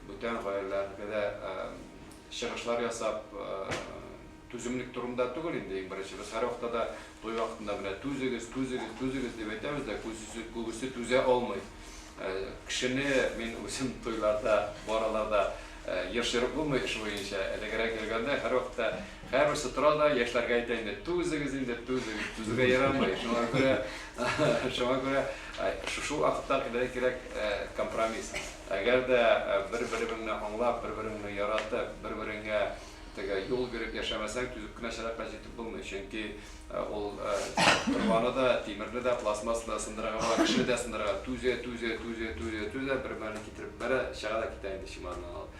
Бүтән гаиләләргә дә чыгышлар ясап, түземлек турында түгел инде, иң беренче. Без һәрвакытта да туй вакытында менә түзегез, түзегез, түзегез дип әйтәбез дә, күбесе, күбесе түзә алмый. Кешене мин үзем туйларда, бу араларда еш йөреп булмый эш буенча, элегрәк йөргәндә һәрвакытта Һәрберсе тора да яшьләргә әйтә инде, түзегез инде, түзегез, түзүгә ярамый, шуңа күрә, шуңа күрә шушы вакытта гына кирәк компромисс. Әгәр дә бер-береңне аңлап, бер-береңне яратып, бер-береңә теге юл биреп яшәмәсәң, түзеп кенә чыракка җитеп булмый. Чөнки ул торбаны да, тимерне дә, пластмассаны да сындырырга була, кешене дә сындырырга. Түзә, түзә, түзә, түзә, түзә, бермәлне китереп бәрә, чыга да китә инде чемоданын алып.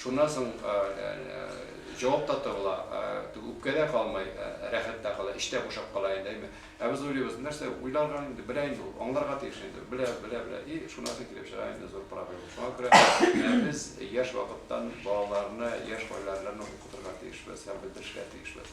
Шуннан соң җавап та табыла, үпкә дә калмый, рәхәт тә кала, эч тә бушап кала инде, әйме. Ә без уйлыйбыз, нәрсә, уйларга инде, белә инде ул, аңларга тиеш инде, белә, белә, белә, и шуннан соң килеп чыга инде зур проблема. Шуңа күрә без яшь вакыттан балаларны, яшь гаиләләрне укытырга тиешбез һәм белдерергә тиешбез.